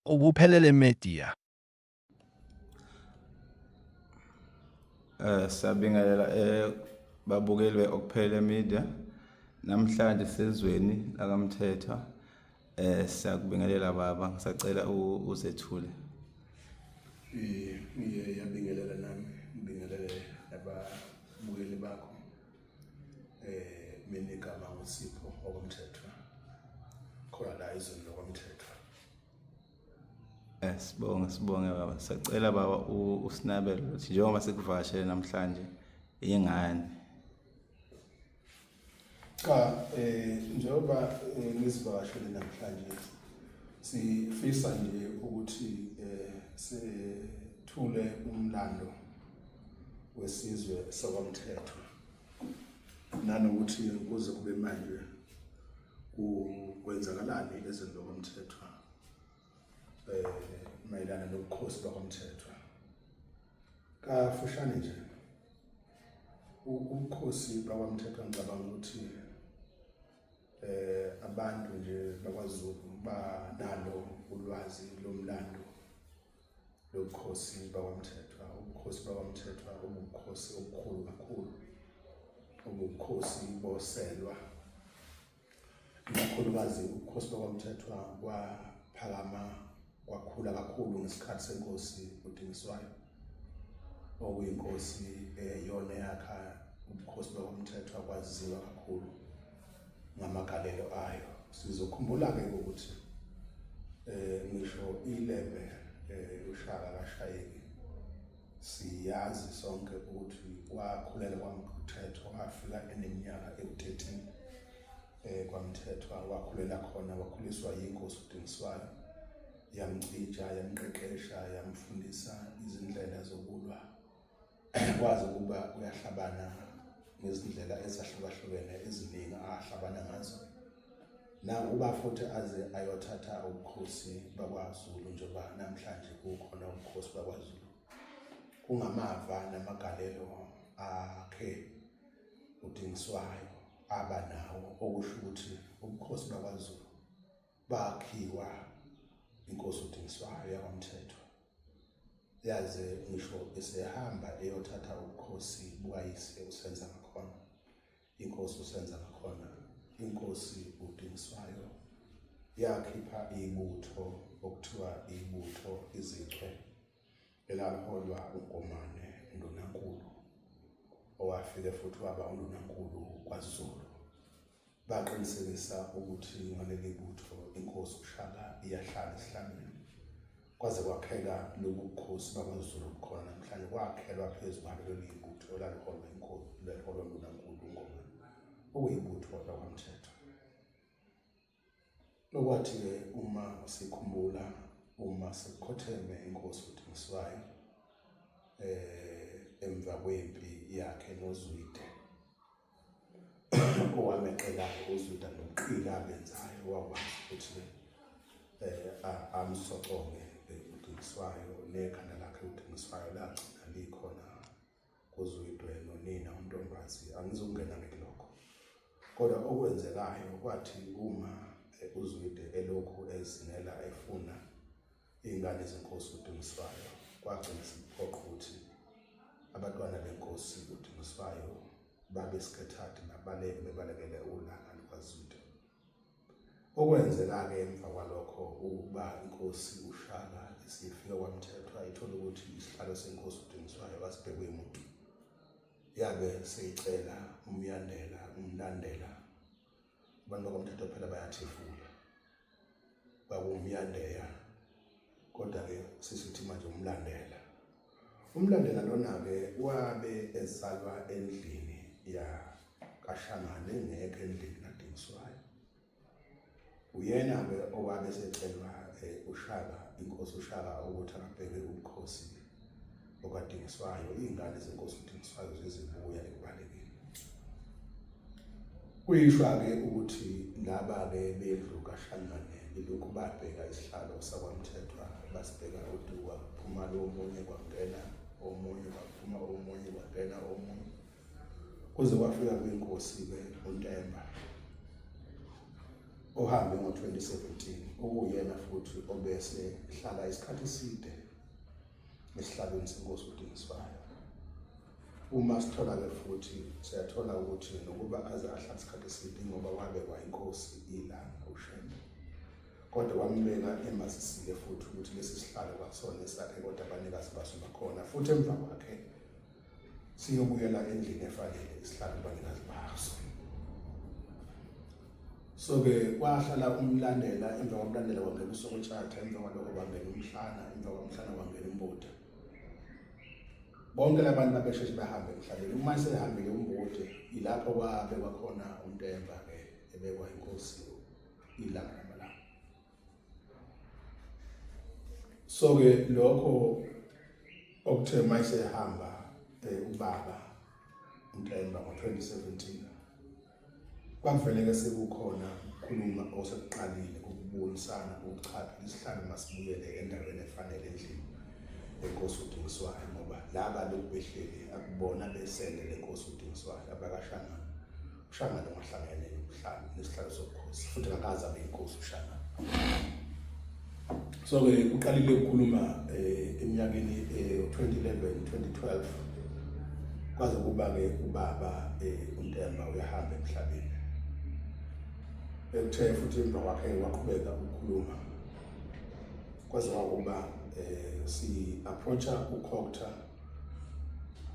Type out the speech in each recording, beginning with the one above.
Ubuphelele Media. Eh siyabingelela eh babukeli beOkuphele Media. Namhlanje sezweni lakamthetho. Eh siyakubingelela baba ngisacela uzethule. Eh ngiyabingelela nami. Ngibingelele ababukeli bakho. eh mina igama ngusipho okomthetho khona la izweni lokomthetho eh, sibonge sibonge baba sacela baba usinabele ukuthi njengoba sikuvashele namhlanje ingane cha eh njengoba eh, ngizivakashele namhlanje sifisa nje ukuthi eh sethule umlando wesizwe sakwamthetho nanokuthi kuze kube manje kwenzakalani ezweni lokwamthethwa um eh, mayelana nobukhosi bakwamthethwa kafushane nje ubukhosi bakwamthethwa ngicabanga ukuthi eh abantu nje bakwaZulu banalo ulwazi lomlando lobukhosi bakwaMthethwa ubukhosi bakwaMthethwa ubukhosi obukhulu kakhulu ubukhosi boselwa ikakhulukazi ubukhosi bakwaMthethwa kwaphakama kwakhula kakhulu ngesikhathi senkosi uDingiswayo okuyinkosi eyona yakha ubukhosi bakwaMthethwa kwaziwa kakhulu ngamagalelo ayo sizokhumbula-ke ukuthi um ngisho ilembe um lushaka kashayeki siyazi sonke ukuthi kwakhulele kwamthethwa wafika eneminyaka ewu-13 um eh, kwamthethwa wakhulela khona wakhuliswa yinkosi udingiswayo yamcija yamqeqesha yamfundisa izindlela zokulwa kwazi ukuba uyahlabana ngezindlela ezahlukahlukene eziningi ahlabana ngazo na uba futhi aze ayothatha ubukhosi bakwaZulu njengoba namhlanje kukhona ubukhosi bakwaZulu kungamava namagalelo akhe udingiswayo aba nawo okusho ukuthi ubukhosi bakwaZulu bakhiwa inkosi uDingiswayo yakwamthetho yaze ngisho esehamba eyothatha ubukhosi bukayise usenza ngakhona inkosi usenza ngakhona inkosi uDingiswayo yakhipha ibutho okuthiwa ibutho izichwe elaliholwa uNkomane uNdunankulu owafike futhi waba uNdunankulu kwaZulu baqinisekisa ukuthi ngaleli butho inkosi uShaka iyahlala esihlangene kwaze kwakheka lobu bukhosi bakwaZulu obukhona namhlanje kwakhelwa phezu kwalo leli butho elaliholwa inkosi leliholwa nguNankulu uNgoma okuyibutho lakwaMthetho Lokwathi-ke uma sikhumbula uma sekukhotheme inkosi uDingiswayo eh emva kwempi yakhe noZwide owameqela uZwide noqila abenzayo wakwazi ukuthi eh amsoconge uDingiswayo nekhanda lakhe uDingiswayo lagcina likhona kuzwidwe nonina untombazi angizukungena ngelokho kodwa okwenzekayo kwathi uma uzwide elokhu ezingela efuna iy'ngane zenkosi udingiswayo kwagcina siphoqa ukuthi abatwana benkosi udingiswayo babe sikhethathi nabaleke bebalekele ulaka lukazwide Okwenzeka-ke emva kwalokho ukuba inkosi uShaka isifike kwaMthethwa ithola ukuthi isihlalo senkosi uDingiswayo kasibhekwe muntu yabe seyicela umyandela umlandela abantu bakwamthethwa phela bayathefula kwakuwumyandeya kodwa-ke sisithi manje umlandela Umlandela lona-ke wabe esalwa endlini ya kaShangane engekho endlini kaDingiswayo. Uyena-ke owabe esecelwa eh, uShaka, inkosi uShaka ukuthi akabheke ubukhosi okaDingiswayo, iy'ngane zenkosi uDingiswayo zizibuya ekubalekeni. Kuyishwa-ke ukuthi laba-ke bendlu kaShanganele ilokhu babheka isihlalo sakwaMthethwa basibheka uduka kuphuma lo omunye kwangena omunye kwaphuma omunye kwangena omunye kuze kwafika kwinkosi-ke uNtemba ohambe ngo-2017 okuyena futhi obese hlala isikhathi eside esihlalweni senkosi uDingiswayo Uma sithola-ke futhi siyathola ukuthi nokuba aze ahlala isikhathi eside ngoba wabekwa inkosi ilanga ushembe kodwa wambeka emasisile futhi ukuthi lesi sihlalo kwasona esakhe kodwa abanikazi baso bakhona futhi emva kwakhe siyobuyela endlini efanele isihlalo abanikazi baso so-ke kwahlala umlandela emva kwamlandela kwangena usokutshatha emva kwaloko kwangena umhlana emva kwamhlana kwangena umbuda bonke labantu babesheshe bahambe emhlabeni uma esehambile umbode ilapho kwabekwa khona untemba ke ebekwa inkosi ilanga lamalanga so ke lokho okuthe uma esehamba eh, ubaba untemba ngo-2017 Kwakuveleke sekukhona ukukhuluma osekuqalile ukubonisana ukuchapha isihlalo masibuyele endaweni efanele endlini lenkosi uDingiswayo ngoba laba lokubehleli akubona besele lenkosi uDingiswayo abakashanga ushanga longahlangene nokuhlala nesihlalo sobukhosi futhi akaze abe inkosi ushanga so ke uqalile ukukhuluma eh, eminyakeni 2011 eh, 2012 kwaze kuba ke ubaba eh, uNtemba uyahamba emhlabeni ekuthe futhi emva kwakhe waqhubeka ukukhuluma kwaze kwakuba eh si approacha ukhokta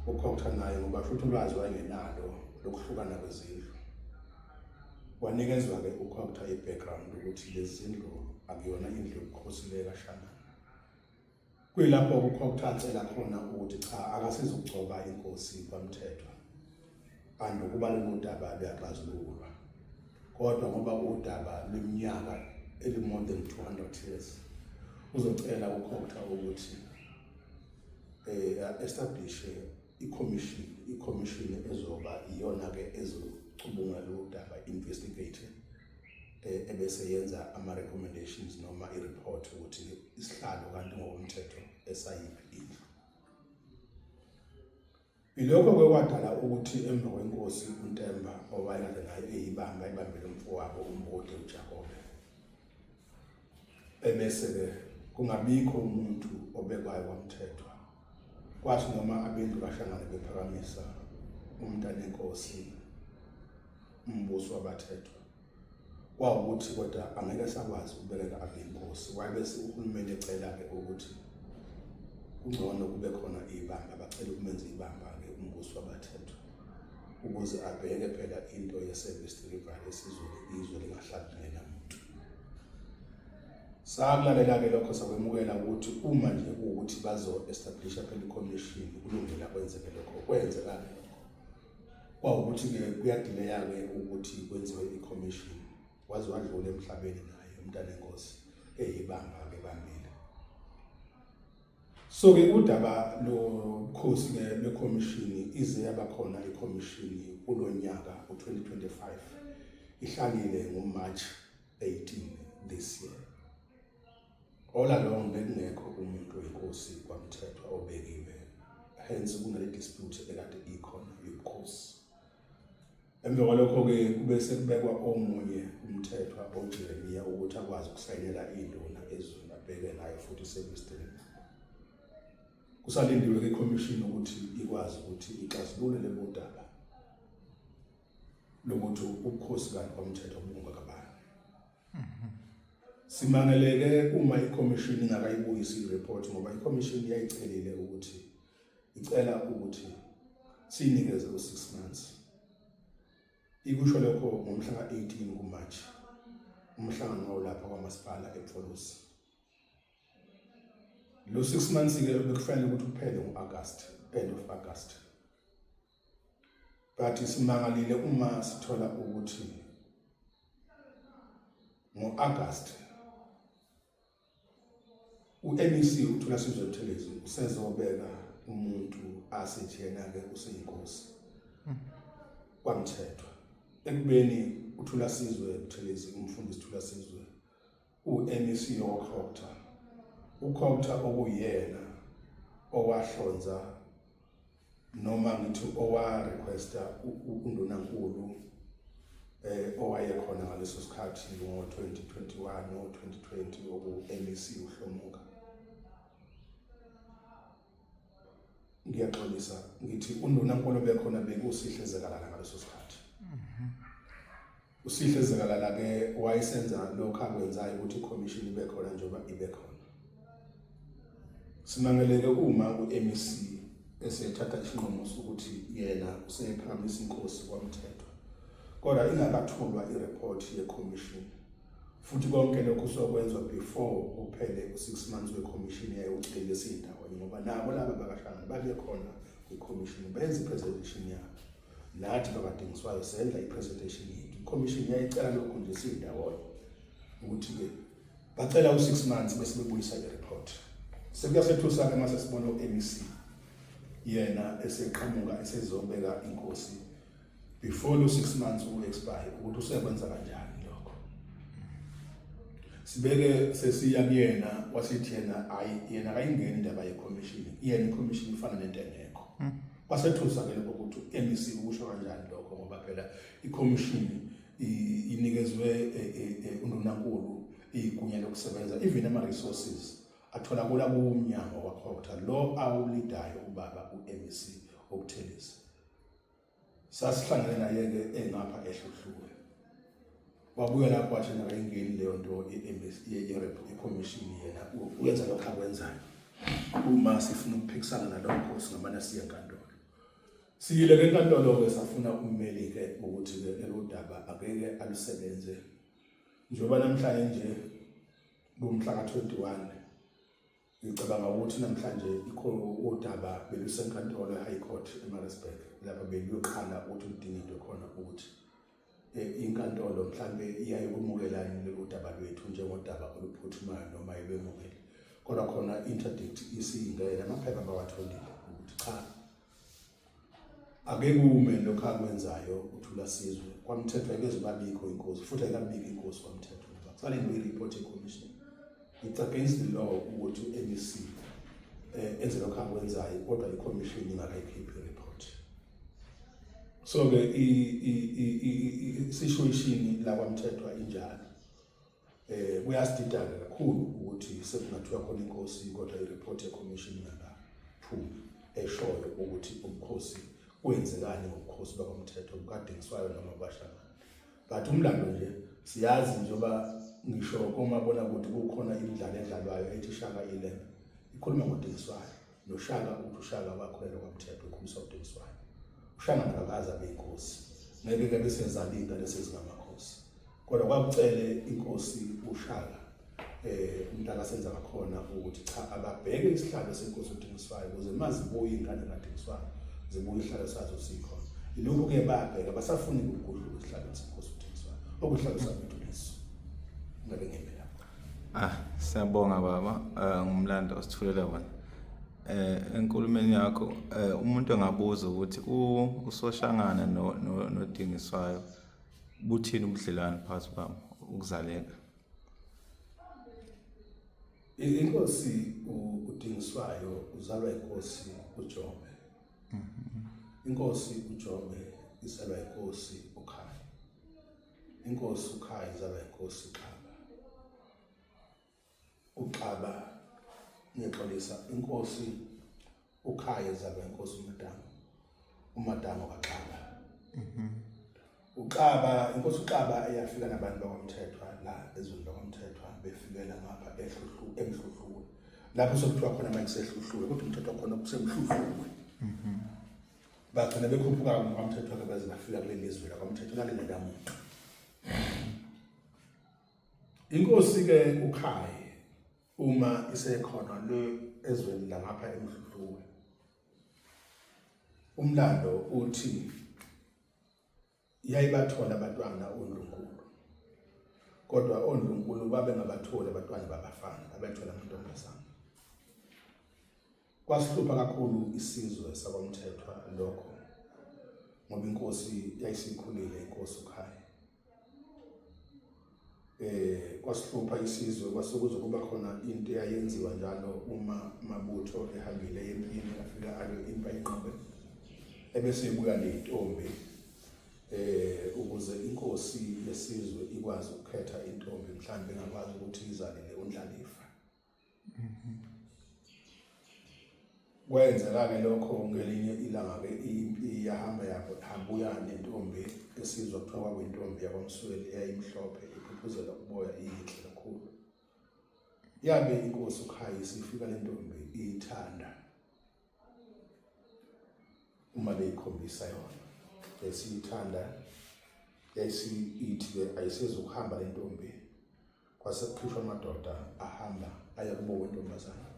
ukhokta naye ngoba futhi ulwazi wayengenalo lokuhlukana kwezindlu Wanikezwa-ke ukho kuthiwa i-background ukuthi lezi zindlu akuyona indlu yobukhosi le kaShangana. Kuyilapho kukho kuthiwa acela khona ukuthi cha akasizokugcoba inkosi kwaMthethwa. Kanti ukuba lolu daba luyaxazululwa. Kodwa ngoba udaba leminyaka eli-more than 200 years uzocela ukho kuthiwa ukuthi um eh, establish ikhomishini ikhomishini ezoba iyona-ke ezocubungula lolu daba investigate eh, ebese yenza ama-recommendations noma i-report ukuthi isihlalo kanti ngokomthetho esayiphi indlu Ilokho kwakwadala ukuthi emva kwenkosi uNtemba owayekade naye eyibamba ibambele umfowabo uMbode uJakobe. Ebese-ke kungabikho umuntu obekwayo wamthethwa Kwathi noma abendlu kaShangane bephakamisa umntanenkosi umbuso wabathethwa kwawukuthi kodwa angeke sakwazi ukubeleka abenkosi wayebese uhulumeni ecela-ke ukuthi kungcono kube khona ibamba bacela ukumenza ibamba-ke umbuso wabathethwa ukuze abheke phela into ye-service delivery esizweni izwe lingahlali ngenamuntu Sakulalela-ke lokho sakwemukela ukuthi uma nje kuwukuthi bazo-establisha phela i-commission kulungela kwenzeke lokho kwenzeka-ke lokho kwawukuthi-ke kuyadileya-ke ukuthi kwenziwe i-commission waze wadlula emhlabeni naye umntanenkosi eyibamba-ke bambile so-ke udaba lokhosi-ke lwekhomishini ize yaba khona ikhomishini kulo nyaka u-2025 ihlangile ngomarch 18 this year. All along bekungekho umuntu wenkosi kwamthethwa obekiwe. Hence kunale dispute ekade ikhona yobukhosi. Emva kwalokho ke kube sekubekwa omunye umthethwa oJeremiya ukuthi akwazi ukusayinela induna ezweni abheke nayo futhi sekwisdini. Kusalindiwe ke commission ukuthi ikwazi ukuthi ixazulule lelo daba. lokuthi ubukhosi kanti komthetho obunga kabani simangeleke uma ikhomishini ingakayibuyisi ireport ngoba ikhomishini yayicelile ukuthi icela ukuthi siyinikeze u 6 months ikusho lokho ngomhla ka-18 kumarch umhlangano wawulapha kwamasipala epfolosi lo 6 months-ke bekufanele ukuthi uphele ngo-agasti end of agasti but simangalile uma sithola ukuthi ngo-agasti u-mec uthola sizwe buthelezi usezobeka umuntu asithi yena-ke useyinkosi kwamthethwa ekubeni uthula sizwe buthelezi umfundisi thula sizwe UMEC woCOGTA, uCOGTA okuyena owahlonza noma ngithi owarequesta uNdunankulu eh owayekhona ngaleso sikhathi ngo-2021 no-2020 oku-MEC uhlomuka ngiyaxolisa ngithi uNdunankulu bekhona bekusihle zekalana ngaleso sikhathi uSihle Zikalala ke wayesenza lokho akwenzayo ukuthi ikhomishini ibe khona njengoba ibe khona simangeleke uma u-MEC esethatha isinqumo sokuthi yena useyephakamisa inkosi kwamthethwa kodwa ingakathulwa ireport yekhomishini futhi konke lokhu sokwenzwa before kuphele u-six months wekhomishini yayo ucele siyindawonye ngoba nabo laba bakahlangani babe khona kwikhomishini benze i-presentation yabo nathi babadingiswayo senza i-presentation yethu ikhomishini yayicela lokhu nje siyindawonye ukuthi-ke bacela u-six months bese bebuyisa i-report sekuyasethusa-ke uma sesibona u-mec yena eseqhamuka esezobeka inkosi before lo six months uku-expire ukuthi useyakwenza kanjani lokho sibeke sesiya kuyena wasithi yena ayi yena akayingeni indaba yekhomishini yena ikhomishini ifana nento engekho mm. Kwasethusa ke lokho ukuthi u-MEC ukusho kanjani lokho ngoba phela ikhomishini inikezwe e, e, e, uNdunankulu igunya lokusebenza even ama-resources atholakala kuwumnyango wakhotha lo awulidayo ubaba u-MEC okuthelisa sasihlangene naye-ke engapha ehluhlule wabuya lapho wathi nakayingeni leyo nto yekhomishini yena uyenza lokho akwenzayo uma sifuna ukuphikisana nalokho singamane siye enkantolo siyile ke enkantolo-ke safuna ummeli-ke ukuthi-ke eludaba akeke alusebenze njengoba namhlanje nje kumhla ka-21 Ngicabanga ukuthi namhlanje ikhona udaba belusenkantolo e-High Court eMaritzburg lapho bekuyoqala ukuthi udingidwe khona ukuthi eh, inkantolo mhlambe iyaye kumukela lolu daba lwethu njengodaba oluphuthumayo noma ibemukele kodwa khona interdict isingena amaphepha bawatholile ukuthi cha ake kume lokho akwenzayo uthula sizwe kwamthethwa ngeze babikho inkosi futhi akabiki inkosi kwamthethwa kusale ngi report e commission it's against the law ukuthi uMC eh enze lokho akwenzayo kodwa i commission ingakayikhiphi report so ke i i i situation la kwamthethwa injalo Eh kuyasididana kakhulu ukuthi sekungathiwa khona inkosi kodwa ireport yeCommission ingakaphumi eshoyo ukuthi umkhosi kwenzekani ngobukhosi bakomthetho bukaDingiswayo noma bashaka. But umlando nje siyazi njengoba ngisho komabonakude kukhona imidlalo edlalwayo ethi Shaka Island ikhuluma ngoDingiswayo. noshaka ukuthi ushaka wakho lelo kwamthetho ukhumisa udingiswayo ushaka ngakaza beyinkosi ngeke ke bese zalinda lesi singamakhosi kodwa kwakucele inkosi ushaka eh umntaka senza ngakhona ukuthi cha ababheke isihlalo senkosi udingiswayo ukuze mazibuye ingane kadingiswayo zibuye isihlalo sazo sikho ilokhu ke babheka basafuni ukugudluka isihlalo senkosi udingiswayo okuhlalo sabantu leso ngabe ngempela Ah, siyabonga baba eh, ngumlando osithulela wona. Eh enkulumeni yakho eh, umuntu engabuza ukuthi usoshangana nodingiswayo buthini ubudlelwane phakathi kwami ukuzaleka. Inkosi udingiswayo uzalwa inkosi uJobe. Mhm. Inkosi uJobe izalwa inkosi Inkosi ukhaya izaba inkosi uxaba uxaba ngiyaxolisa inkosi ukhaya izaba inkosi umadama umadama kaxaba mhm. uxaba inkosi uxaba eyafika nabantu bakwamthethwa la ezweni lakwamthethwa befikela ngapha ehluhlu emhluhluwe lapho sekuthiwa khona manje sehluhluwe kodwa umthetho khona kusemhluhluwe mhm. bagcina bekhuphuka kwamthetho wake baze bafika kule lizwe lakwamthetho lalingekamuntu inkosi-ke ukhaye uma isekhona le ezweni langapha emdludluwe umlando uthi yayibathola abantwana ondlunkulu kodwa ondlunkulu babengabatholi abantwana babafana babethola amantombazana kwasihlupha kakhulu isizwe sakwamthethwa lokho ngoba inkosi yayisikhulile inkosi ukhaya eh kwasihlupha isizwe kwase kuzokuba khona into eyayenziwa njalo uma mabutho ehambile empini afika ayo impa inqobe ebese ibuya nentombi eh ukuze inkosi yesizwe ikwazi ukukhetha intombi mhlawumbe engakwazi ukuthi izalele undlalifa kwenzeka-ke lokho ngelinye ilanga-ke impi yahamba yahambuya nentombi esizwa kuthiwa kwakuyintombi yakwamsweli eyayimhlophe iphuphuzela uboya iyinhle kakhulu yabe inkosi ukhayisa ifika le ntombi iyithanda uma beyikhombisa yona yayisiyithanda yayisiyithi-ke ayisezukuhamba le ntombi kwase kuphishwa amadoda ahamba aya kubo wentombazana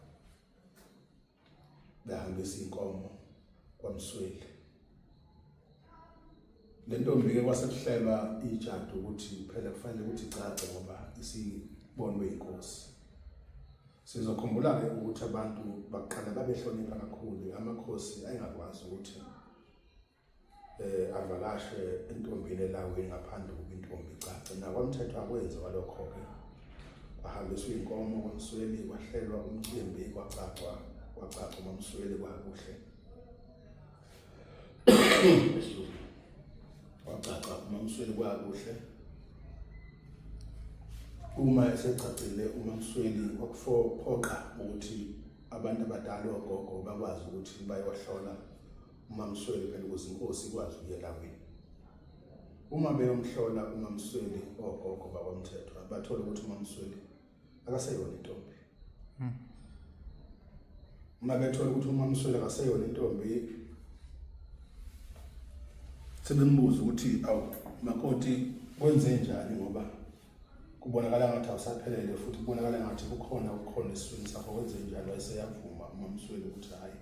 behambisa iy'nkomo kwamsweli le ntombi-ke kwasekuhlelwa ijadu ukuthi phela kufanele ukuthi igcagce ngoba isibonwe yinkosi Sizokhumbula-ke ukuthi abantu bakuqala babehlonipha kakhulu amakhosi ayengakwazi ukuthi um avakashe entombini elawini ngaphandle kokuba intombi icace nakwamthetho akwenziwa lokho-ke kwahambiswa iy'nkomo kwamsweli kwahlelwa umcimbi kwacacwa kwacaca umamsweli kwakuhle wacaca umamsweli kwakuhle uma esegcagcile umamsweli wakufophoqa ukuthi abantu abadala ogogo bakwazi ukuthi bayohlola umamsweli phela ukuze inkosi ikwazi ukuyelawini uma beyomhlola umamsweli ogogo bakwamthethwa bathola ukuthi umamsweli akaseyona intombi hmm. uma bethola ukuthi uma mswele akaseyona intombi sebembuza ukuthi awu makoti kwenze njani ngoba kubonakala ngathi awusaphelele futhi kubonakala ngathi kukhona ukukhona esiswini sakho kwenze njani wayeseyavuma uma mswele ukuthi hhayi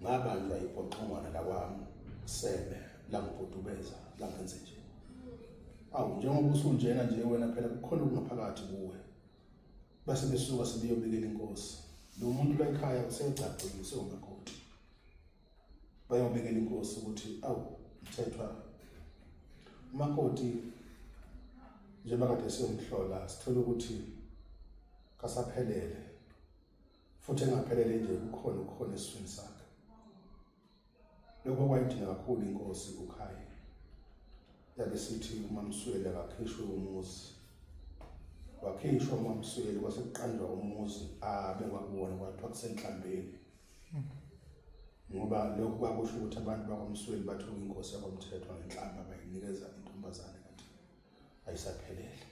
ngabanjwa yibhoqongwana lakwami sebe langibhudubeza langenze nje awu njengoba usunjena nje wena phela kukhona okungaphakathi kuwe base besuka sebeyobikela inkosi lo muntu la ekhaya usegcagcile usewumakoti bayobikela inkosi ukuthi awu mthethwa umakoti njengoba kade siyomhlola sithole ukuthi kasaphelele futhi engaphelele nje kukhona ukukhona esifini sakhe Lokho kwayidinga kakhulu inkosi uKhayi. Yabe sithi uMamsweli akakhishwe umuzi. Wakhishwa uMamsweli kwase kuqanjwa umuzi abe kwakuwona kwathiwa kusenhlambeni. Ngoba lokho kwakusho ukuthi abantu bakwaMsweli bathola inkosi yakwamthethwa ngenhlamba bayinikeza intombazane kanti ayisaphelele.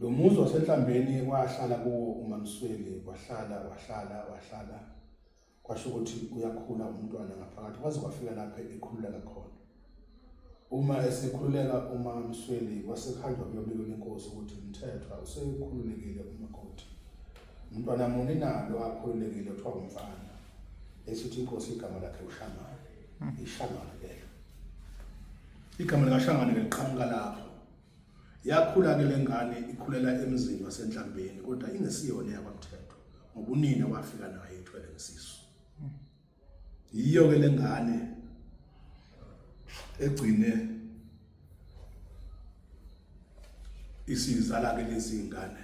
Lo muzi wasenhlambeni wahlala kuwo uMamsweli wahlala wahlala wahlala kwasho ukuthi uyakhula umntwana ngaphakathi kwaze kwafika lapha ekhululeka khona uma esekhululeka uma Msweli wasekhanda kuyobika inkosi ukuthi umthethwa usekhululekile umakoti umntwana muni nalo akhululekile kuthiwa umfana esithi inkosi igama lakhe uShamana iShamana lelo Igama likaShangane ke liqhamuka lapho. Yakhula ke lengane ikhulela emzini wasenhlambeni kodwa ingesiyona yakwaMthethwa ngoba unina wafika naye ethwele ngesisu. Yiyo ke lengane egcine isizala ke lezi ngane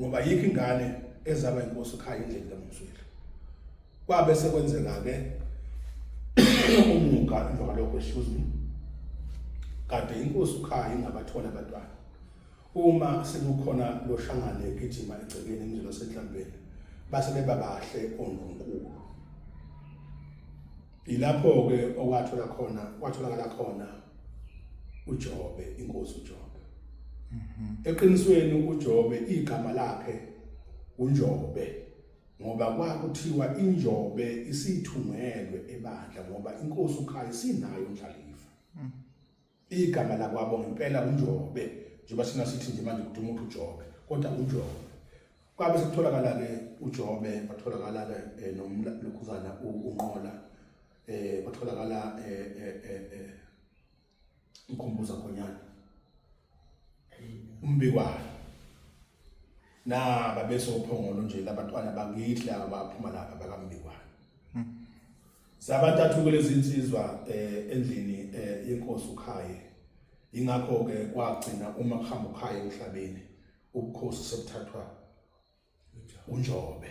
ngoba yikho ingane ezaba inkosi ekhaya indlela kaMsweli kwabe sekwenzeka ke umuka emva kwalokho excuse me kade inkosi ukhaya ingabathola abantwana uma sekukhona lo shangane egijima egcekeni emzini wasenhlambeni base beba bahle ondlunkulu Yilapho-ke okwathola khona kwatholakala khona uJobe inkosi uJobe. Mhm. Eqinisweni uJobe igama lakhe uNjobe ngoba kwakuthiwa injobe isithumelwe ebandla ngoba inkosi ukhaya sinayo indlalifa. Mhm. Igama lakwabo ngempela uNjobe njengoba sina sithi nje manje ukuthi umuntu uJobe kodwa uNjobe. Kwabe sekutholakala-ke uJobe batholakala-ke eh, nomlokhuzana uNqola eh batholakala eh eh eh, eh ukhumbuza khonyana umbikwayo na babesophongolo nje labantwana bakithi laba baphuma lapha bakambikwayo hmm. Zabantathu kulezi nsizwa eh, endlini eh, yenkosi uKhaye. Ingakho ke kwagcina uma kuhamba uKhaye emhlabeni ubukhosi sebuthathwa uNjobe.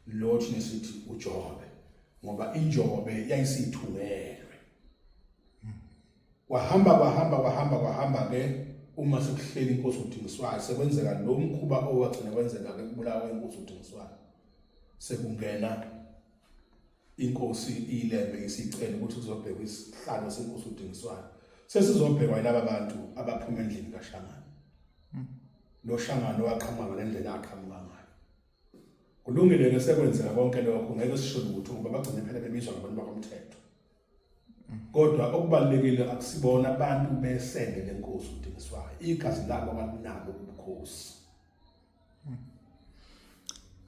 Lo thina sithi uJobe ngoba iNjobe yayisithukelwe. Kwahamba kwahamba kwahamba kwahamba ke uma sekuhleli inkosi uDingiswayo sekwenzeka lo mkhuba owagcina kwenzeka ke kubulawa inkosi uDingiswayo. Sekungena inkosi iyilembe isicela ukuthi kuzobhekwa isihlalo senkosi uDingiswayo sesizobhekwa yilaba bantu abaphuma endlini kaShangane hmm. lo Shangane waqhamuka ngendlela aqhamuka ngayo kulungile ke sekwenzeka konke lokho ngeke sisho ukuthi ngoba bagcine phela bebizwa ngabantu bakomthetho hmm. kodwa okubalekile akusibona abantu besende lenkosi uDingiswayo igazi labo abaninabo ubukhosi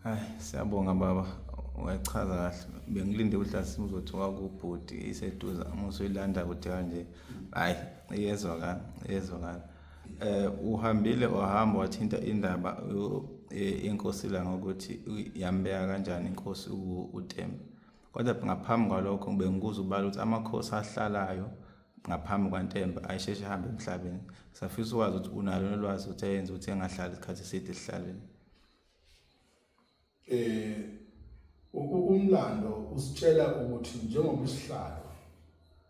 Hayi siyabonga baba wachaza kahle bengilinde ukuthi asimu uzothi wakubhuti iseduza uma usuyilanda kude kanje hayi iyezwakala iyezwakala eh uhambile wahamba wathinta indaba eh, inkosi la ngokuthi yambeka kanjani inkosi uTembe kodwa ngaphambi kwalokho bengikuza ubala ukuthi amakhosi ahlalayo ngaphambi kwantemba ayisheshe ehambe emhlabeni safisa ukwazi ukuthi unalo nolwazi ukuthi ayenze ukuthi engahlali isikhathi eside esihlalweni eh umlando usitshela ukuthi njengoba isihlalo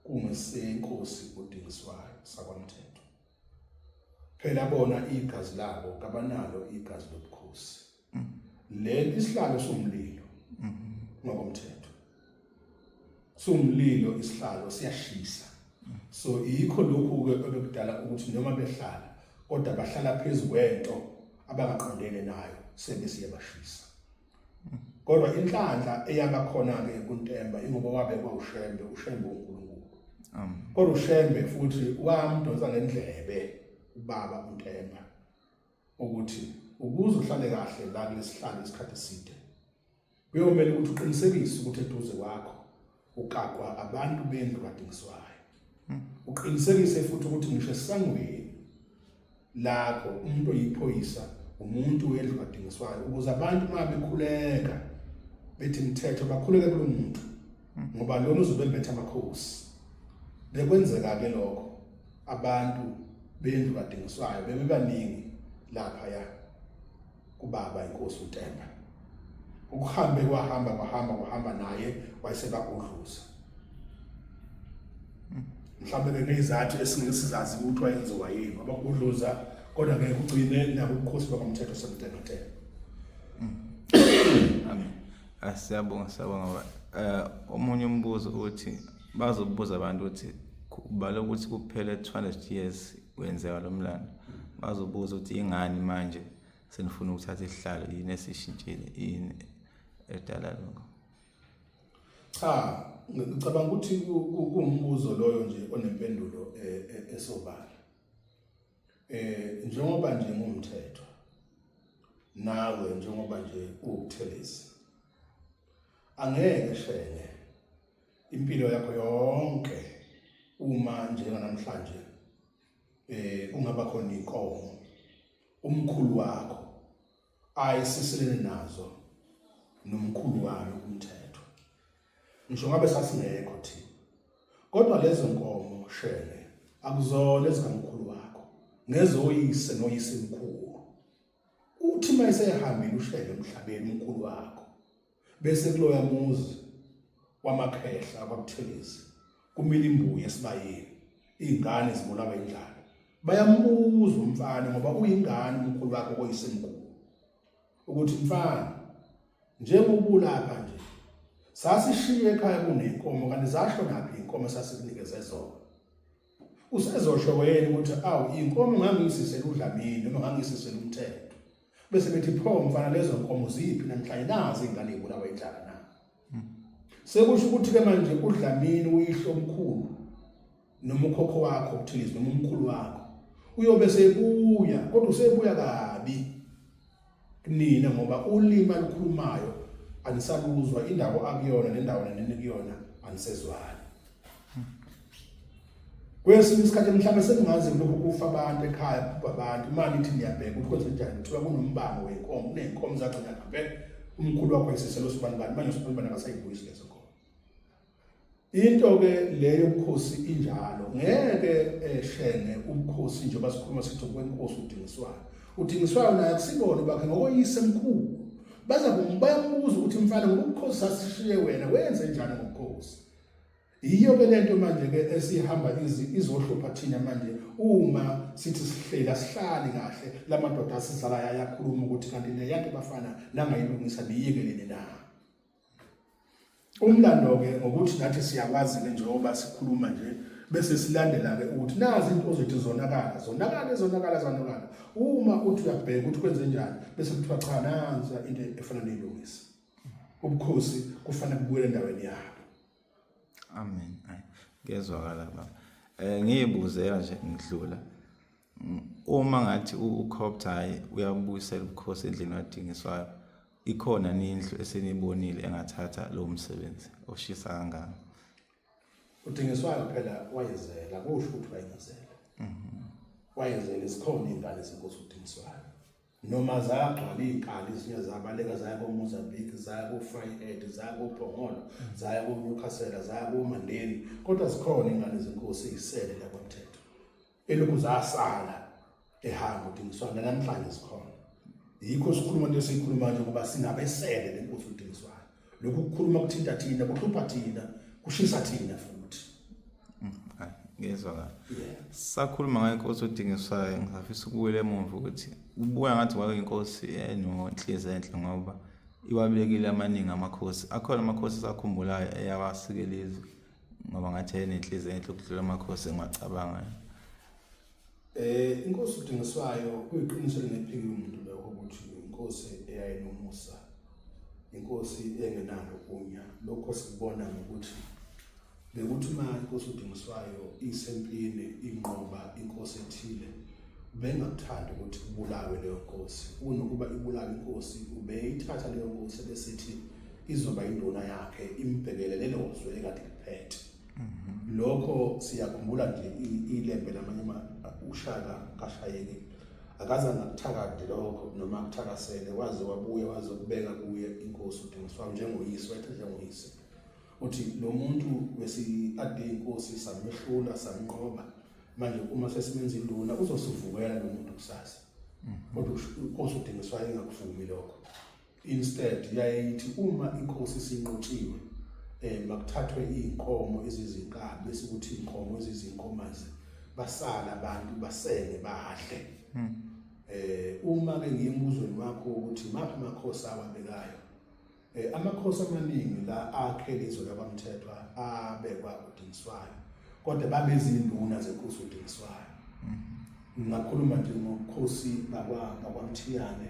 kungesenkosi udingiswayo sakwamthetho phela bona igazi labo kabanalo igazi lobukhosi leli isihlalo somlilo ngokomthetho somlilo isihlalo siyashisa so yikho lokhu ke obekudala ukuthi noma behlala kodwa bahlala phezulu kwento abangaqondene nayo sebesiye bashisa kodwa inhlanhla eyaba khona ke kuntemba ingoba wabe kwawushembe ushembe uNkulunkulu kodwa ushembe futhi wamdonsa ngendlebe ubaba untemba ukuthi ukuze uhlale kahle la kulesihlalo isikhathi eside kuyomele ukuthi uqinisekise ukuthi eduze kwakho ukakwa abantu bendlu kadingiswayo hmm. uqinisekise futhi ukuthi ngisho esangweni lakho umuntu oyiphoyisa umuntu wendlu kadingiswayo ukuze abantu uma bekhuleka bethi mthetho bakhuleke kulo muntu hmm. ngoba lona uzobembetha amakhosi bekwenzeka ke lokho abantu bendlu kadingiswayo bebebaningi lapha ya kubaba inkosi uTemba ukuhambe kwahamba kwahamba kwahamba naye wayesebagudluza mhlawumbe benezathu esingeke sizazi ukuthi wayenziwa yini abagudluza kodwa ngeke ugcine nabo ubukhosi bakamthetho sebuthengathela amen asiyabonga siyabonga eh, omunye umbuzo uthi bazobuza abantu ukuthi kubala ukuthi kuphele 200 years wenzeka lo mlando bazobuza ukuthi ingani manje senifuna ukuthatha isihlalo yini esishintshile yini edala lokho cha ngicabanga ukuthi kuwumbuzo loyo nje onempendulo e, e, esobala eh njengoba nje ngumthetho nawe njengoba nje ukuthelisa angeke shenge impilo yakho yonke uma njenganamhlanje eh ungaba khona inkomo umkhulu wakho ayisiselene nazo nomkhulu wami umthetho ngisho ngabe sasingekho thina kodwa lezo nkomo shele akuzona ezikamkhulu wakho ngezoyise noyise mkhulu uthi mayesehambile ushele emhlabeni umkhulu wakho bese kuloya muzi wamakhehla kwabuthelezi kumile imbuya esibayeni izingane zibulawa indlala bayambuza umfana ngoba uyingane umkhulu wakhe koyisemkhulu ukuthi mfana njengobulapha nje sasishiye ekhaya kunenkomo kanti zasho naphi inkomo sasikunikeze zona usezosho wena ukuthi awu inkomo ngangisisela udlamini noma ngangisisela umthetho bese bethi pho mfana lezo nkomo ziphi namhlanje nazi ingane ibulawa indlala na sekusho ukuthi ke manje udlamini uyihlo omkhulu noma ukhokho wakho kuthize noma umkhulu wakho uyobe sebuya kodwa usebuya kabi kunina ngoba ulimi alukhulumayo anisaluzwa indawo akuyona nendawo nenini kuyona anisezwani kwesinye isikhathi mhlawumbe seningazi lokhu kufa abantu ekhaya kubha abantu uma nithi niyabheka ukuthi kwenze njani kuthiwa kunombango wenkomo kuney'nkomo zagcina ngempela umkhulu wakho esiselo sobani bani manje sobani bani akasayibuyisi lezo Into ke le yobukhosi injalo ngeke eshenge eh, ubukhosi njengoba sikhuluma sithi kwenkosi udingiswayo udingiswayo naye akusibona bakhe ngokoyise mkhulu baza kumbuza ukuthi mfana ngobukhosi sasishiye wena wenze njani ngobukhosi yiyo ke lento manje ke esihamba izohlupha thina manje uma sithi sihleli asihlali kahle lamadoda asizalayo ayakhuluma ukuthi kanti neyakhe bafana nangayilungisa niyikelele na Umlando-ke ngokuthi nathi siyakwazi-ke njengoba sikhuluma nje bese silandela-ke ukuthi nazi into ozothi zonakala zonakala ezonakala zonakala uma uthi uyabheka ukuthi kwenze njani bese kuthiwa cha nansa into efana neyilungisa ubukhosi kufanele kubuyele endaweni yabo amen ngezwakala baba eh ngiyibuzela nje ngidlula uma ngathi ukhoptha uyabuyisela ubukhosi endlini wadingiswayo Ikhona nindlu esenibonile engathatha lowo msebenzi oshisa kangaka. Udingiswayo phela wayezela kusho ukuthi wayezela. Mhm. Wayezela isikhona ingane senkosi udingiswayo. Noma zagcwala izinkali izinye zabaleka zaya koMozambique, zaya koFryhead, zaya koPhongolo, zaya koNewcastle, zaya koMandeni. Kodwa zikhona ingane zenkosi izisele la kwaMthetho. elokhu zasala ehamba udingiswayo namhlanje sikhona yikho sikhuluma into esiyikhuluma nje ukuba singabesele le nkosi udingiswayo lokhu kukhuluma kuthinta thina kuhlupha thina kushisa thina futhi mm, ngizwa kahle sakhuluma ngayo inkosi odingiswayo ngisafisa ukubuyela emuva ukuthi ubuya ngathi wayo inkosi enonhliziyo enhle ngoba iwabekile amaningi amakhosi akhona amakhosi sakhumbulayo eyawasikela izwe ngoba ngathi enenhliziyo enhle ukudlula amakhosi engiwacabangayo eh inkosi udingiswayo kuyiqiniso lenephiki umuntu lo ukuthi inkosi eyayinomusa inkosi engenalo kunya lokho sikubona ngokuthi bekuthi uma inkosi udingiswayo isempini inqoba inkosi ethile bengakuthanda ukuthi kubulawe leyo nkosi unokuba ibulawe inkosi ubeyithatha leyo nkosi besithi izoba induna yakhe imbhekele lelo zwe ekade liphethe mhm. lokho siyakhumbula nje ilembe lamanye ushaka kashayeki akazange akuthakade lokho noma akuthakasele waze wabuye waze kubeka kuye inkosi udingiswa njengoyise wethe njengoyise uthi lo muntu wesi-ade inkosi samhlula samnqoba manje uma sesimenza induna uzosivukela lo muntu kusasa mhm. kodwa inkosi udingiswayo ingakuvumi lokho Instead yayithi uma inkosi sinqotshiwe eh makuthathwe izinkomo ezizinkabi bese kuthi inkomo ezizinkomazi basala abantu basenge badle hmm. eh uma ke ngiyembuzweni wakho ukuthi maphi amakhosi awabekayo eh amakhosi amaningi la akhe lezo labamthethwa abekwa udingiswayo kodwa babezinduna zenkosi udingiswayo hmm. Ngakhuluma nje ngobukhosi bakwaMthiyane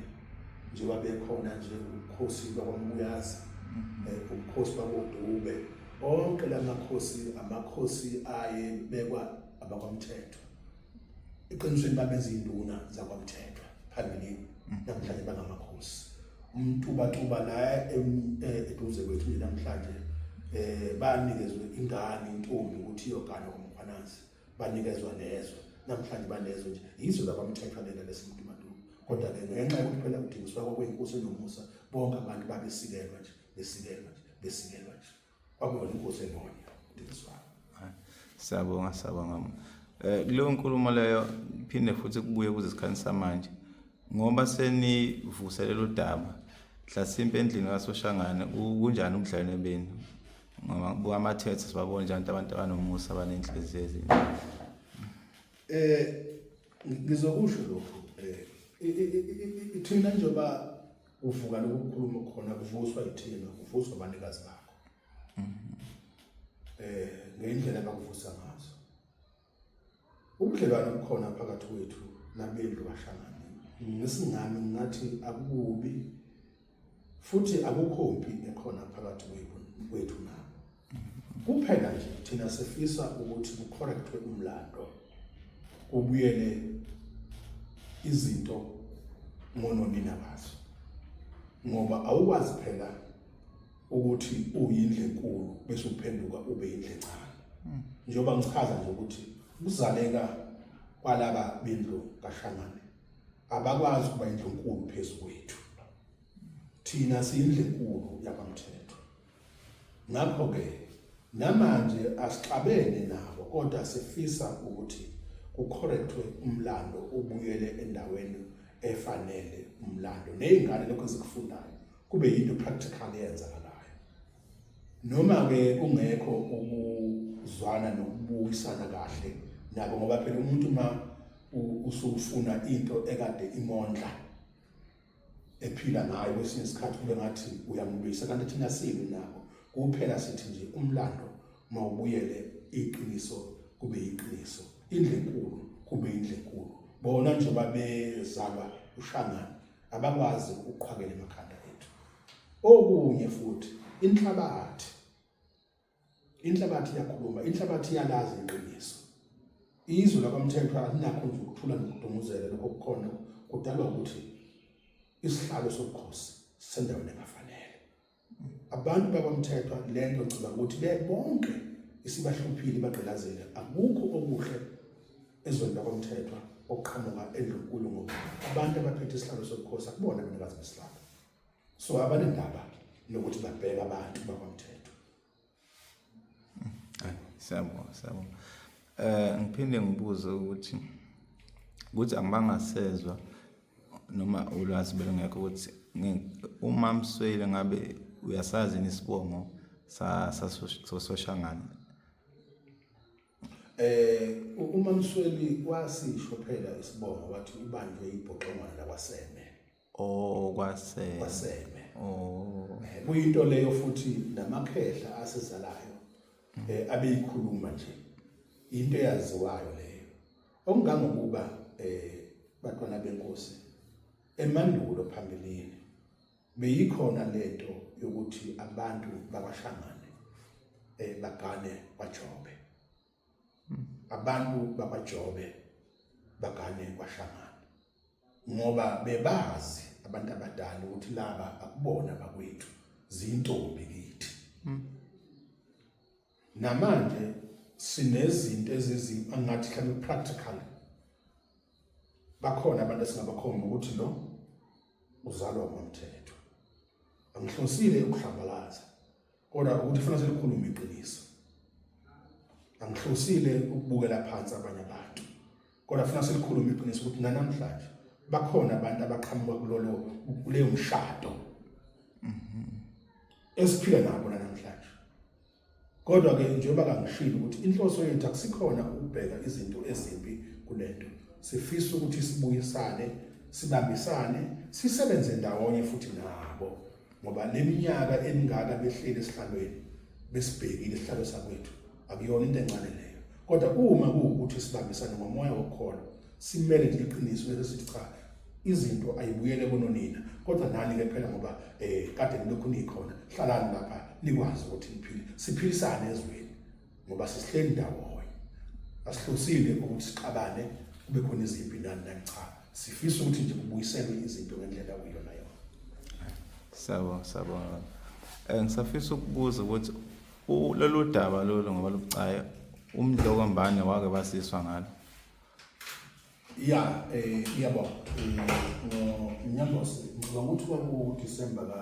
nje babekhona nje ubukhosi bakwaMbuyazi eh, ubukhosi bakwaDube onke la makhosi amakhosi aye bekwa abakwamthetho eqinisweni babenza induna zakwamthetho phambilini mm. namhlanje bangamakhosi umtubatuba la e, eduze kwethu namhlanje eh banikezwe ingane intombi ukuthi iyogana komkhwanazi banikezwa nezwe namhlanje banezwe nje yizo labamthethwa lena lesimntu maduku kodwa ke ngenxa yokuthi phela kudingiswa kwakweyinkosi enomusa bonke abantu babesikelwa nje besikelwa nje besikelwa nje kwakuyona inkosi engonya kudingiswayo siyabonga siyabonga um kuleyo nkulumo leyo phinde futhi kubuye kuze isikhathi samanje ngoba senivuselela udaba mhlasimpe endlini kasoshangane kunjani ubudlelwane benu ngoba kubuka amathethe sibabona njani abantu abanomusa abanenhliziyo ezinhle eh ngizokusho lokho eh ithina njengoba uvuka lokukhuluma khona kuvuswa ithina kuvuswa abanikazi bakho eh ngendlela abakuvusa ngayo Ubudlelwane obukhona phakathi kwethu nabendlu kaShangane ngesingami ngathi akukubi futhi akukho mpi ekhona phakathi kwethu nabo. Kuphela nje thina sifisa ukuthi kucorrectwe umlando kubuyele izinto ngononina bazo ngoba awukwazi phela ukuthi uyindle enkulu bese uphenduka ube indle encane hmm. njengoba ngichaza nje ukuthi ukuzaleka kwalaba bendlu kaShangane abakwazi ukuba indlu enkulu phezu kwethu thina siyindlu enkulu yakwamthetho ngakho ke namanje asixabene nabo kodwa sifisa ukuthi kucorrectwe umlando ubuyele endaweni efanele umlando nezingane lokho ezikufundayo kube yinto practical eyenzakalayo noma ke kungekho ukuzwana nokubuyisana kahle nabo ngoba phela umuntu uma usufuna into ekade imondla ephila ngayo kwesinye isikhathi kube ngathi uyamlwisa kanti thina sibi nako kuphela sithi nje umlando mawubuyele iqiniso kube iqiniso indle enkulu kube indle enkulu bona nje babezalwa ushangana abakwazi ukuqhwakela emakhanda ethu okunye futhi inhlabathi inhlabathi iyakhuluma inhlabathi iyalazi iqiniso izwe lakwamthethwa alinakho nje ukuthula nokudumuzela lokho kukhona kudalwa ukuthi isihlalo sobukhosi sendaweni engafanele Abantu bakwamthethwa lento ngicela ukuthi bebonke isibahluphile bagqilazele akukho okuhle ezweni lakwamthethwa okuqhamuka endlunkulu ngoba abantu abaphethe isihlalo sobukhosi akubona abanikazi besihlalo so abanendaba nokuthi babheka abantu bakwamthethwa Siyabonga, siyabonga. Eh ngiphinde ngibuze ukuthi ukuthi angibangasezwa noma ulwazi belungekho ukuthi uma mswele ngabe uyasazi isibongo sa sososhangana eh uma msweli wasisho phela isibongo wathi ubanjwe ibhoxongwana lakwaseme Oh kwaseme. Kwaseme. Oh. Eh, kuyinto leyo futhi namakhehla asizalayo eh abeyikhuluma nje. Into eyaziwayo leyo. Okungangokuba eh batwana benkosi emandulo phambilini beyikhona lento yokuthi abantu bakwashangane eh bagane kwaJobe. abantu bakwaJobe bagane kwaShamana ngoba bebazi abantu abadala ukuthi laba akubona bakwethu zintombi kithi hmm. namanje sinezinto ezizi angathi mhlawumbe practical bakhona abantu esingabakhomba ukuthi lo uzalwa ngomthetho angihlosile ukuhlambalaza kodwa ukuthi kufanele silikhulume iqiniso angihlosile ukubukela phansi abanye abantu kodwa kufanele silikhulume iqiniso ukuthi nanamhlanje bakhona abantu abaqhamuka kulolo kuleyo mshado mhm. esiphila nabo namhlanje kodwa ke njengoba kangishilo ukuthi inhloso yethu akusikhona ukubheka izinto ezimbi kulento sifisa ukuthi sibuyisane sibambisane sisebenze ndawonye futhi nabo ngoba le minyaka emingaka behleli esihlalweni besibhekile isihlalo sakwethu akuyona into encane leyo kodwa uma kuwukuthi sibambisane ngomoya wokholo simele nje iqiniso lesithi cha izinto ayibuyele kononina kodwa nani ke phela ngoba eh kade nilokhu nikhona hlalani lapha nikwazi ukuthi niphile siphilisane ezweni ngoba sisihleli ndawonye asihlosile ukuthi siqabane kube khona izimpi nani nani cha sifisa ukuthi nje kubuyiselwe izinto ngendlela okuyona yona sabo sabo eh, ngisafisa ukubuza ukuthi lolu daba lolu ngoba lubucaye umdloko mbane wake basiswa ngalo ya eh yabo eh, ngonyambose ngicabanga ukuthi kwaku December ka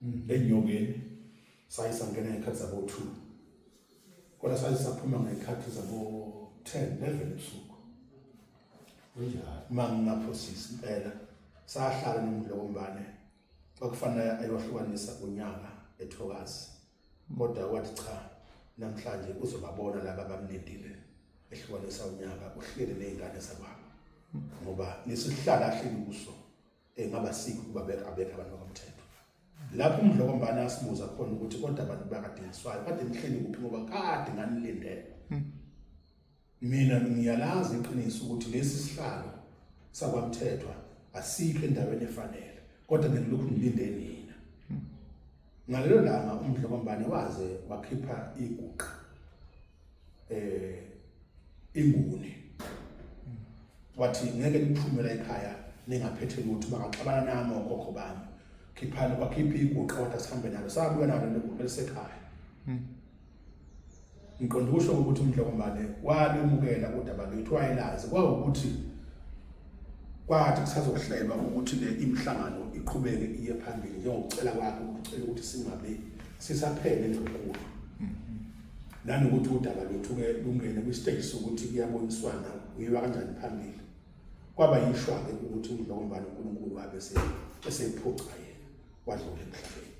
mm. enyokeni saye sangena ngekhathi zabo-two kodwa saye saphuma ngekhathi zabo-ten eleven ebusuku uma ngingaphosisi impela sahlala nomlokombane kwakufanele ayohlukanisa unyaka ethokazi kodwa wathi cha namhlanje uzobabona laba bamlindile ehlukanisa unyaka uhlele nezingane zakwabo ngoba nesihlala hleli kuso engaba sikho ukuba beka abekho abantu bakamthetho lapho umdlokombane asibuza khona ukuthi kodwa abantu bakadingiswayo kade nihleli kuphi ngoba kade nganilindele hmm. mina ngiyalazi iqiniso ukuthi lesi sihlalo sakwamthethwa asikho endaweni efanele kodwa ngilokhu ngilinde nina hmm. ngalelo langa umdlokombane waze wakhipha iguqa eh inguni wathi ngeke niphume la ekhaya ningaphethe lutho bangaxabana nami okhokho bami khiphani kwakhipha iguqa kodwa sihambe nalo sabuya nalo liguqa lisekhaya hmm. ngiqonda ukusho ukuthi umdlokombane walimukela kodaba lwethu wayelazi kwawukuthi kwathi kusazohlelwa ukuthi le imhlangano iqhubeke iye phambili njengokucela kwakhe ukucela ukuthi singabe sisaphele lokhu nanokuthi udaba lwethu-ke lungene kwisiteji sokuthi kuyaboniswana kuyiwa kanjani phambili kwaba yishwa-ke ukuthi udlokombani unkulunkulu wabe esephuca yena wadlula emhlabeni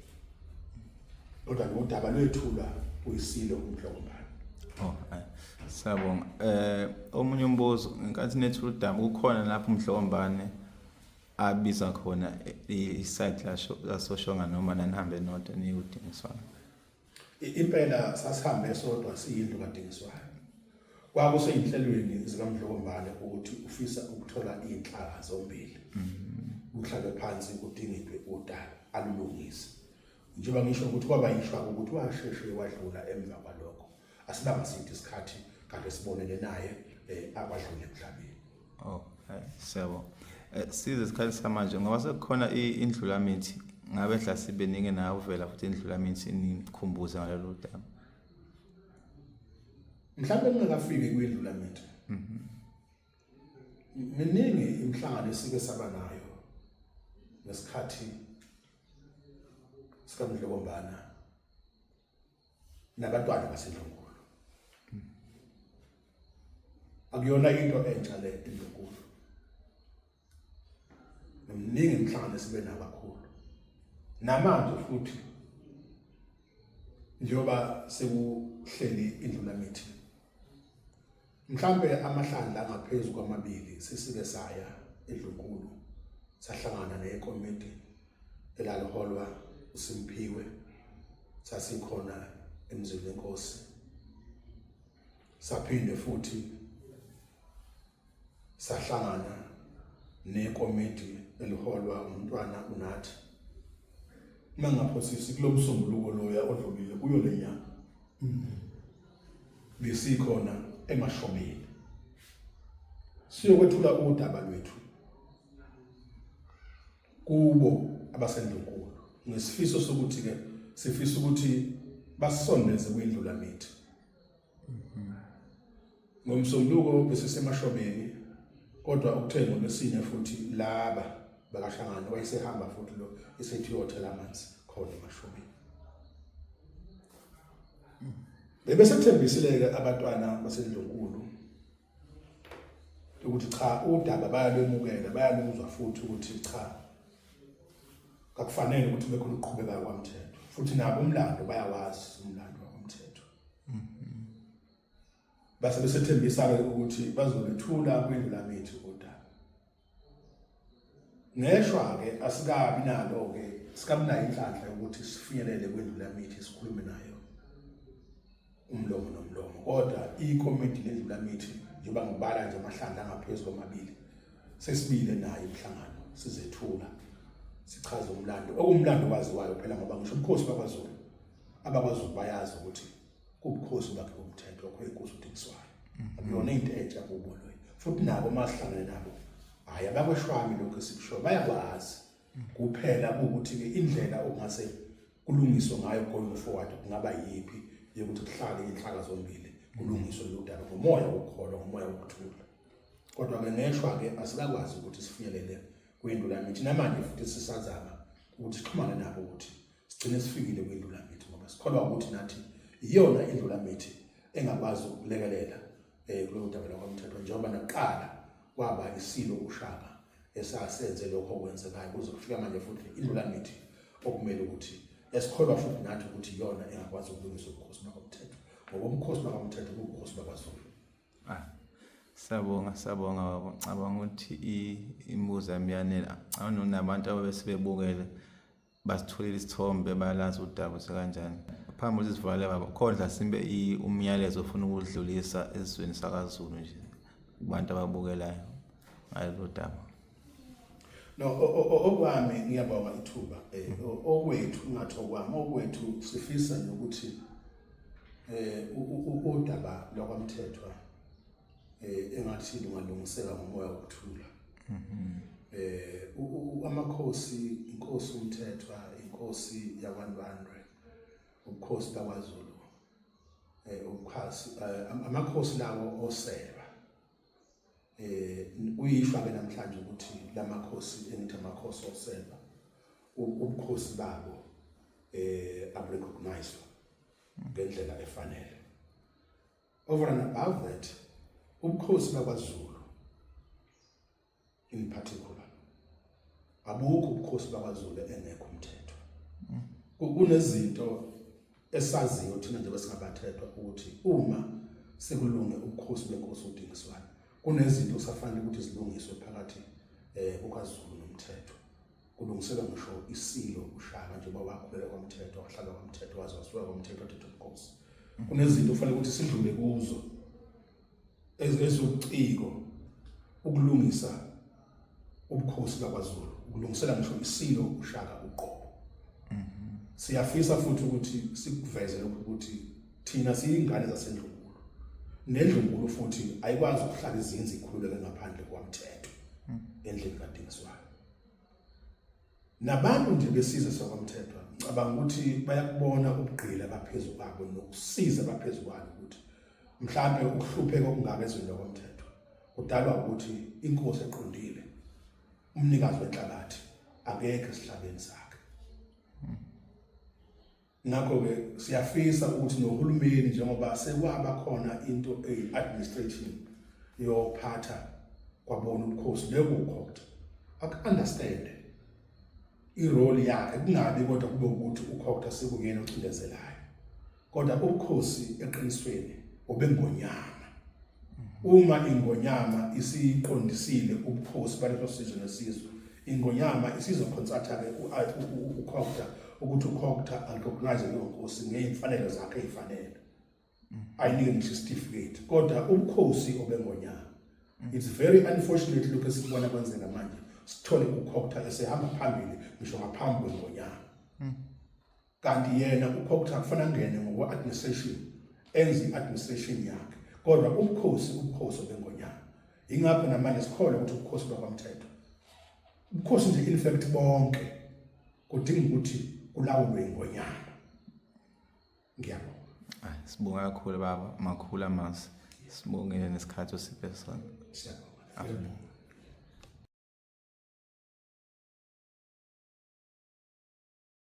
kodwa nodaba lwethulwa kuyisilo umdlokombani oh, siyabonga um omunye umbuzo ngenkathi nethula udaba kukhona lapho umdlokombane abiza khona i-site lasosho nganoma nanihambe nodwa niyudingiswana Impela sasihambe sodwa siyindlu kadingiswayo. Kwakuseyinhlelweni zikaMdlokombane ukuthi ufisa ukuthola inhlaka zombili. Kuhlabe phansi kudingidwe udaba alulungise. Njengoba ngisho ukuthi kwaba yishwa ukuthi washeshe wadlula emva kwalokho. asibanga side isikhathi kanti sibonene naye eh, akwadlule emhlabeni oh hayi siyabo eh, size isikhathi samanje ngoba sekukhona indlulamithi ngabe hla sibeningi nawe uvela futhi indlulamithi nikhumbuze ngalelo daba mhlawumbe ningakafiki kwindlulamithi mhm. miningi imihlangano esike saba nayo ngesikhathi sikamdlokombana nabantwana baseNdlunkulu akuyona into entsha le Ndlunkulu nomningi umhlangano esibe nabakhulu namanje futhi njengoba sekuhleli indlulamithi Mhlambe amahlandla angaphezu kwamabili sisike saya edlunkulu sahlangana nekomiti elaliholwa uSimphiwe sasikhona emzini wenkosi saphinde futhi sahlangana nekomiti eliholwa umntwana unathi uma ngaphosisi kulomsombuluko loya odlulile kuyo lenyanga mm. besikhona emashobeni siyokwethula udaba lwethu kubo abasendunkulu ngesifiso sokuthi ke sifisa ukuthi basondeze kwindlula mithi Ngomsombuluko besesemashobeni kodwa ukuthe ngolwesine futhi laba bakahlangana wayesehamba futhi lo esethi uyothela amanzi khona emashobeni. Bebesethembisile-ke abantwana baseNdlunkulu ukuthi cha udaba bayalwemukela bayaluzwa futhi ukuthi cha kakufanele ukuthi bekhona ukuqhubeka kwamthetho futhi nabo umlando bayawazi umlando base besethembisa-ke ukuthi bazolithula kwindlulamithu kodaba ngeshwa-ke asikabi nalo-ke sikabi nayo inhlanhla yokuthi sifinyelele kwindlulamithi sikhulume nayo umlomo nomlomo kodwa ikomiti lendlulamithi njengoba ngibala nje amahlandla angaphezu kwamabili sesibile nayo umhlangano sizethula sichaza umlando okuwumlando waziwayo phela ngoba ngisho ubukhosi bakwaZulu abakwaZulu bayazi ukuthi kubukhosi bakhe bomthetho wakho inkosi uDingswayo mm-hmm. akuyona into entsha kubo loyo futhi nabo masihlangene nabo hayi abakweshwami lokho esikushoyo bayakwazi mm. kuphela ukuthi ke indlela okungase kulungiswe ngayo going forward kungaba yipi yokuthi kuhlale inhlaka zombili kulungiswe lodaba ngomoya wokholo ngomoya wokuthula kodwa ke ngeshwa ke asikakwazi ukuthi sifinyelele kwendulamithi namanje futhi sisazama ukuthi sixhumane nabo ukuthi sigcine sifikile kwindulamithi ngoba sikholwa ukuthi nathi iyona indulamithi engakwazi ukulekelela eh kulo daba lakwamthetho njengoba naqala kwaba isilo ushaka esasenze lokho okwenzekayo kuze kufika manje futhi indulamithi okumele ukuthi esikholwa futhi nathi ukuthi iyona engakwazi ukulungisa ubukhosi bakwamthetho ngoba umkhosi bakwamthetho kuwubukhosi bakwaZulu ah Siyabonga siyabonga baba ngicabanga ukuthi imibuzo yami yanele ngicabanga nabantu ababesibebukele basitholile isithombe balazi udaba sekanjani phambi ukuthi sivalele baba khondla simbe umyalezo ofuna ukudlulisa esizweni sakazulu nje kubantu ababukelayo ngalelo daba no okwami ngiyabonga ithuba eh, okwethu ngathi okwami okwethu sifisa nokuthi eh udaba lwakwamthethwa eh engathi lungalungiseka ngomoya wokuthula mhm. eh amakhosi inkosi umthethwa inkosi yakwaNdwandwe ubukhosi bakwaZulu eh ubukhasi eh, amakhosi lawo oseba eh uyishwa ke namhlanje ukuthi lamakhosi engithi amakhosi oseba ubukhosi babo eh aburecognize ngendlela efanele Over and above that, ubukhosi bakwaZulu in particular abukho ubukhosi bakwaZulu engekho umthetho. Kunezinto esaziyo thina nje besingabathethwa ukuthi uma sekulunge ubukhosi benkosi udingiswana kunezinto kusafanele ukuthi zilungiswe phakathi eh kukaZulu nomthetho. kulungiselwa ngisho isilo ushaka njengoba wakhulele kwamthetho wahlala kwamthetho waze wasuka kwamthetho wathetha ubukhosi kunezinto kufanele ukuthi sidlule kuzo ezobuciko ukulungisa ubukhosi bakwaZulu ukulungisela ngisho isilo ushaka uqobo mhm. siyafisa futhi ukuthi sikuveze lokhu ukuthi thina siyingane zasendlunkulu nendlunkulu futhi ayikwazi ukuhlala izinzi ikhululeke ngaphandle kwamthetho mhm. endlini kadingiswayo nabantu nje besizwe sakwaMthethwa ngicabanga ukuthi bayakubona ubugqila baphezu kwabo nokusiza baphezu kwalo ukuthi mhlambe ukuhlupheka okungaka ezweni lokwaMthethwa kudalwa ukuthi inkosi eqondile umnikazi wenhlabathi akekho esihlabeni sakhe Ngakho-ke siyafisa ukuthi nohulumeni njengoba sekwaba khona into eyi-administration yophatha kwabona ubukhosi bekukhokta aku-understande irole yakhe kungabi kodwa kube ukuthi ukhokta sekungena ocindezelayo kodwa ubukhosi eqinisweni obengonyama uma ingonyama isiqondisile ubukhosi baleso sizwe nesizwe Ingonyama isizokhonsathake ukhokta ukuthi ukhokta arecognize leyo nkosi ngeyimfanelo zakhe eyifanele ayinike ngisho isitifiketi kodwa ubukhosi obengonyama it's very unfortunate lokhu esikubona kwenzeka manje sithole ukhokta esehamba phambili ngisho ngaphambi kwengonyama kanti yena kukho ukuthi akufana ngene ngokwe administration enze administration yakhe kodwa ubukhosi ubukhosi bengonyama ingakho namanje sikholwa ukuthi ubukhosi bakwamthetho ubukhosi nje in fact bonke kudinga ukuthi kulawulwe ingonyama ngiyabonga hayi sibonga kakhulu baba makhulu amazwi sibongele nesikhathi osiphe sona siyabonga